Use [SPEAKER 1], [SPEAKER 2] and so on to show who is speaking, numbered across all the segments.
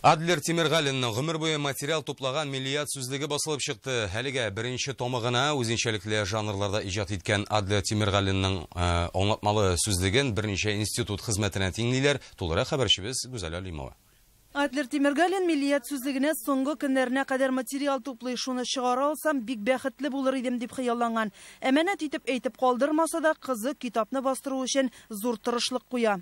[SPEAKER 1] Адлер Тимергалинның гомер буе материал туплаган Миллият сүзлеге басылып чыкты. Әлегә беренче томы гына. Үзенчәлекле жанрларда иҗат иткән Адлер Тимергалинның аңлатмалы сүзлеген берничә институт хезмәтенә тиңлиләр. Тулырак хәбәрчебез Гүзәл Алимова. Адлер
[SPEAKER 2] Тимергалин Миллият сүзлегенә соңгы көннәренә кадәр материал туплый, шуны чыгара алсам, бик бәхетле булыр идем, дип хыялланган. Әманәт итеп әйтеп калдырмаса да, кызы китапны бастыру өчен зур тырышлык куя.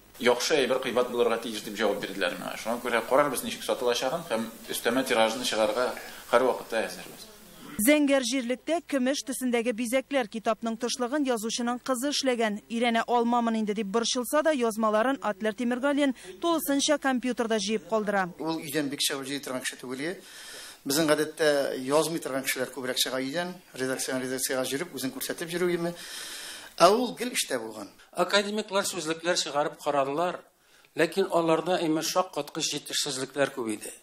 [SPEAKER 2] Яхшы әйбер
[SPEAKER 3] кыйбат булырга тиеш, дип җавап бирделәр миңа. Шуңа күрә карарбыз, ничек сатылачагын һәм өстәмә тиражны чыгарырга һәрвакытта әзербез. Зәңгәр
[SPEAKER 2] җирлектә көмеш төсендәге бизәкләр китапның тышлыгын язучының кызы эшләгән. Өйрәнә алмамын инде дип борчылса да, язмаларын Атлер Тимергалин тулысынча компьютерда җыеп калдыра. Ул өйдән бик чыгып
[SPEAKER 4] җыйый торган кеше түгел иде. Безнең гадәттә язмый торган кешеләр күбрәк чыга өйдән, редакциядән редакциягә җөреп, үзен күрсәтеп җөрү име. Ә ул гел эштә булган. Академиклар
[SPEAKER 5] сүзлекләр чыгарып карадылар, ләкин аларда имеш шаккаткыч җитешсезлекләр күп иде.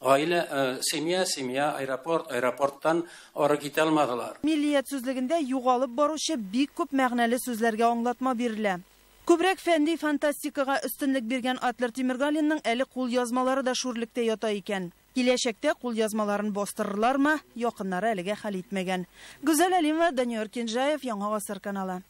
[SPEAKER 5] Гаилә, э, семья, семья, аэропорт, аэропорттан ары китә алмадылар. Миллият сүзлегендә
[SPEAKER 2] югалып баручы бик күп мәгънәле сүзләргә аңлатма бирелә. Күбрәк фәнди фантастикага өстенлек биргән Адлер Тимергалинның әле кулъязмалары да шүрлектә ята икән. Киләчәктә кулъязмаларын бастырырлармы, якыннары әлегә хәл итмәгән. Гүзәл Әлимова, Данияр Кинжаев, Яңа гасыр каналы.